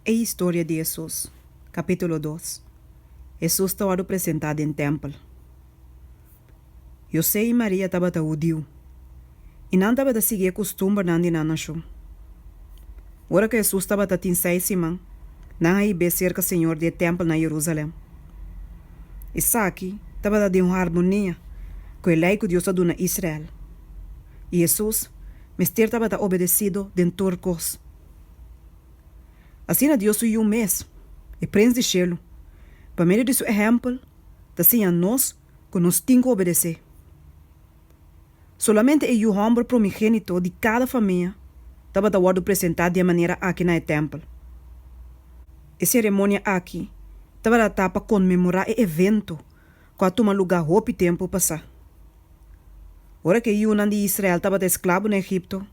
E historia di Hesus. Capítulo dos Hesus ta wòrdu presentá den tèmpel José i Maria tabata hudiu i nan tabata sigui e kustumbernan di nan nashon. Ora ku Hesus tabata tin seis siman, nan a hib'é serka señor di e tèmpel na Yerusalen. Esaki tabata den harmonia ku e Lei ku Dios a duna Israel, i Hesus mester tabata obedesido den tur kos. Asina Dios su Yu mes, e Prins di shelu, pa medio di su ehèmpel ta siña nos ku nos tin ku obedesé. Solamente e yu hòmber promigénito di kada famia tabata wòrdu presentá di e manera aki na e tèmpel. E seremonia aki tabata ta pa konmemorá e evento ku a tuma lugá hopi tempu pasá. Ora ku e yunan di Israel tabata esklabo na Egipto,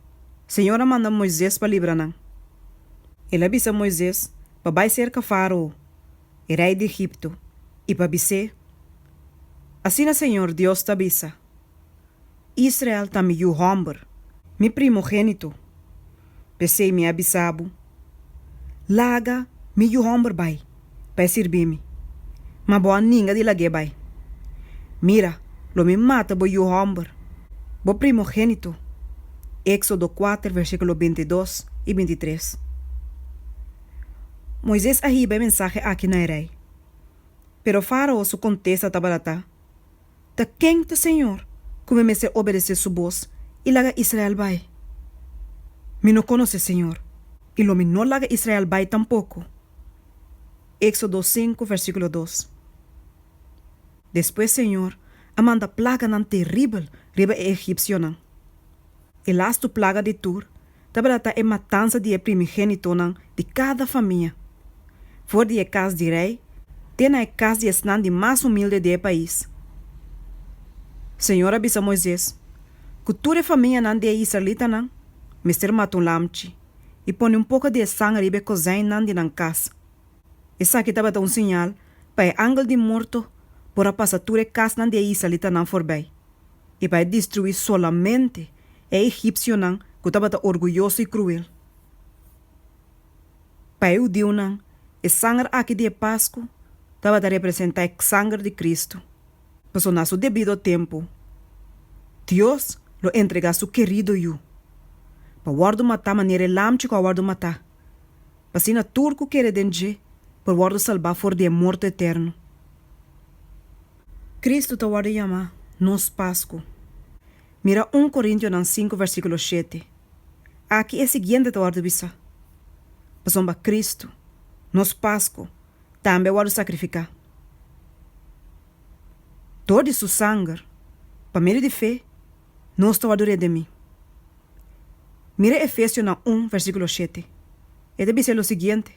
Señor a manda Moises pa libra nan. El a bisa Moises pa bai serka Farao, e rei di Egipto, i pa bis'é, Asina Señor Dios ta bisa, Israel ta mi yu hòmber, mi primogénito. P'esei mi a bisa bo, Laga mi yu hòmber bai pa e sirbi mi, ma bo a ninga di lag'é bai. Mira, lo mi mata bo yu hòmber, bo primogénito. Éksodo kuater versíkulo binti dos i binti tres. Moises a hiba e mensahe akí na e rei, pero Fárao su kontesta tabata ta, Ta ken ta Señor cu mi mester obedece su boz y laga Israel bai? Mi no conoce Señor, y lo mi no laga Israel bai tampoco. Exodo sinku versiculo dos. Despues Señor a manda plaganan teribel riba e egipcionan. E lastu plaga di tur Tabata ta e matansa di e primigénitonan di kada famia, for di e kas di rei te na e kas di esnan di mas humilde di e pais. Señor a bisa Moises ku tur e famianan di e israelitanan mester mata un lamchi i pone un poka di e sangre riba e kozènnan di nan kas. Esaki tabata un siñal pa e angel di morto por a pasa tur e kasnan di e israelitanan forbei. I bai destruí solamente e egipsionan ku tabata orguyoso i kruel. Pa e hudiunan, e sanger akí di e Pasku tabata representá e sanger di Kristu. Pasobra na su debido tempu, Dios lo entregá su kerido Yu pa wòrdu matá manera e lam chikó a wòrdu matá, pa asina tur ku kere den dje por wòrdu salbá for di e morto eterno. Kristu ta wòrdu yamá nos Pasku. Mira un Korintionan sinku vèrsikulo shete. Aki e siguiente ta wòrdu bisa, Pasobra Kristu, nos Pasku, tambe a wòrdu sakrifiká. Dor di su sanger, pa medio di fe, nos ta wòrdu redimí. Mira Efesionan un vèrsikulo shete. E ta bisa lo siguiente,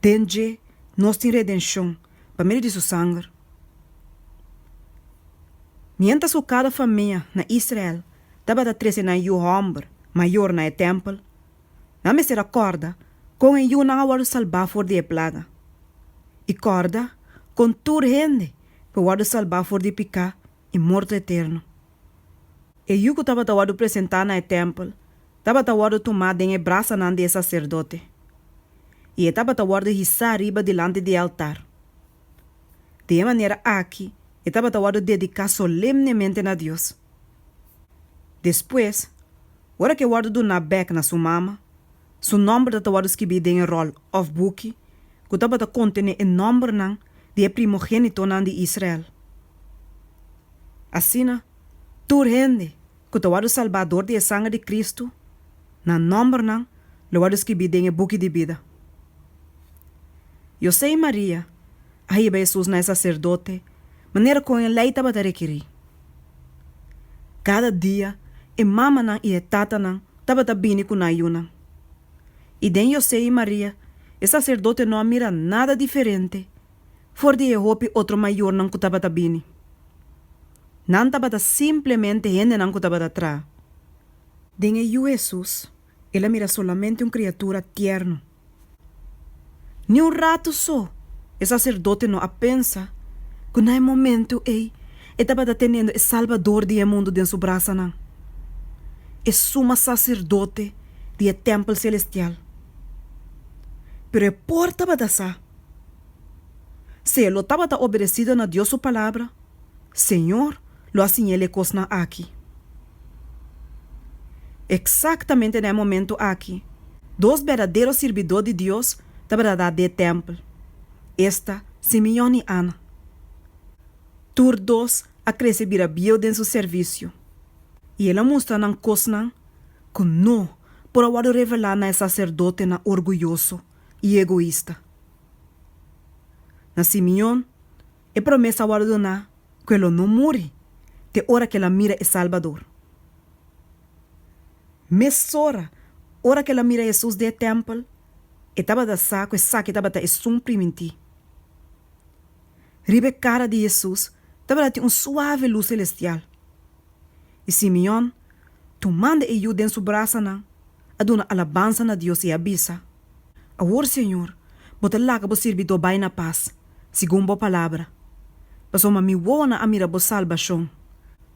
Den dje nos tin redenshon pa medio di su sanger. Miéntras ku kada famia na Israel tabata trese nan yu hòmber mayor na e tèmpel, nan mester a kòrda kon e yunan a wòrdu salbá for di e plaga. I kòrda kon tur hende por wòrdu salbá for di piká i morto eterno. E yu ku tabata wòrdu presentá na e tèmpel tabata wòrdu tumá den e brasanan di e saserdote i e tabata wòrdu hisá riba dilanti di e altar. Di e manera aki e tabata wòrdu dediká solemnemente na Dios. Despues, ora ku e wòrdu duná bèk na su mama, Su nòmber ta ta wòrdu skibí den e ròl òf buki ku tabata kontené e nòmbernan di e primogénitonan di Israel. Asina, tur hende ku ta wòrdu salbá dor di e sanger di Kristu, nan nòmbernan lo wòrdu skibí den e buki di bida. José i Maria a hiba Hesus na e saserdote manera kon e Lei tabata rekerí. Kada dia e mamanan i e tatanan tabata bini ku nan yunan. I den José i Maria e saserdote no a mira nada diferente for di e hopi otro mayornan ku tabata bini. Nan tabata simplemente hendenan ku tabata traha. Den e yu Hesus, el a mira solamente un kriatura tierno. Ni un ratu so e saserdotenan a pensa ku na e momentu ei e tabata teniendo e Salbador di e mundu den su brasanan, e Suma Saserdote di e tèmpel selestial. Pero e por tabata sa. Si e lo tabata obedesido na Dios su Palabra, Señor, lo a siña el e kosnan aki. Eksaktamente na e momentu aki, dos berdadero sirbidó di Dios tabata dá dje tèmpel. Esta Simeon i Ana. Tur dos a krese bira bieu den su servisio, i el a mustra nan kosnan ku no por a wòrdu revelá na e saserdotenan orguyoso i egoista. Na Simeon, E promesa a wòrdu doná ku e lo no muri te ora ku el a mira e Salbador. Mesora ora ku el a mira Hesus den e tèmpel, e tabata sa ku esaki tabata esun primintí. Riba e kara di Hesus tabata tin un suave lus selestial. I Simeon, tumando e yu den su brasanan, a duna alabansa na Dios i a bisa, Awor, señor, bo ta laga bo sirbidó bai na pas, segun bo palabra. Pasobra mi wowonan a mira bo salbashon,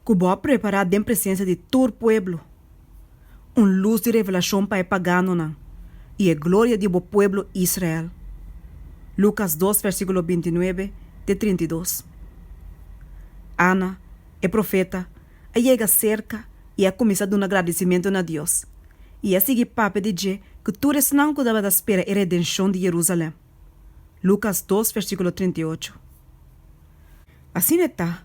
ku bo a prepará den presensia di tur pueblo, un lus di revelashon pa e paganonan, i e gloria di bo pueblo Israel. Lucas dos versíkulo binti nuebe te trinta i dos Ana, e profeta, a yega serka i a kuminsá duna gradisimentu na Dios, i a sigui papia di dje ku tur esnan ku tabata spera e redenshon di Jerusalen. Lukas dos versíkulo trinta i ocho. Asina e ta,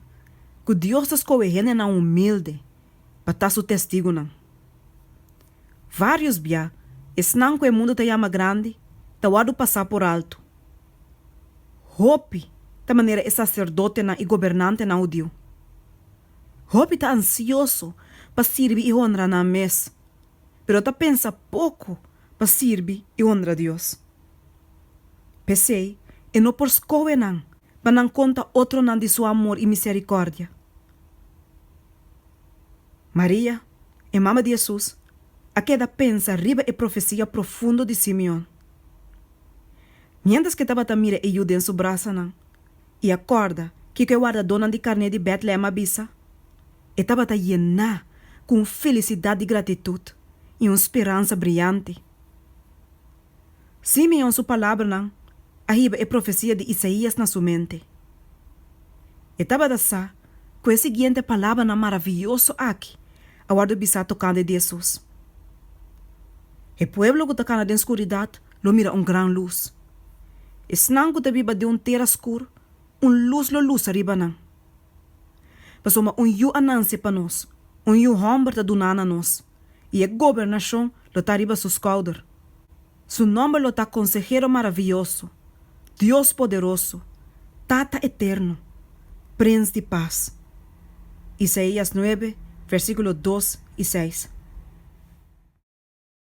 ku Dios ta skohe hendenan humilde pa ta su Testigunan. Vários bia, esnan ku e mundu ta yama grandi ta wòrdu pasá por altu. Hopi ta manera e saserdotenan i gobernantenan hudiu. Hopi ta ansioso pa sirbi i honra nan mes, pero ta pensa poko pa sirbi i honra Dios. P'esei, e no por skohe nan pa nan konta otronan di su amor i miserikòrdia. Maria, e mama di Hesus, a keda pensa riba e profesia profundo di Simeon. Miéntras ke tabata mira e yu den su brasanan i a kòrda kiko e wardadónan di karné di Bètlehèm a bisa, e tabata yená ku un felisidat di gratitut i un speransa briante. Simeon su palabranan a hiba e profesia di Isaías na su mente. E tabata sa ku e siguiente palabranan maravioso aki a wòrdu bisa tokante di Hesus, E pueblo ku ta kana den skuridat lo mira un gran lus. Esnan ku ta biba den un tera skur, un lus lo lusa riba nan. Pasobra un yu a nanse pa nos, un yu hòmber ta duná na nos. i e gobernashon lo ta riba su skouder. Su nòmber lo ta Konsehero Maravioso, Dios Poderoso, Tata Eterno, Prins di Pas. Isaías nuebe, vèrsikulo dos i seis.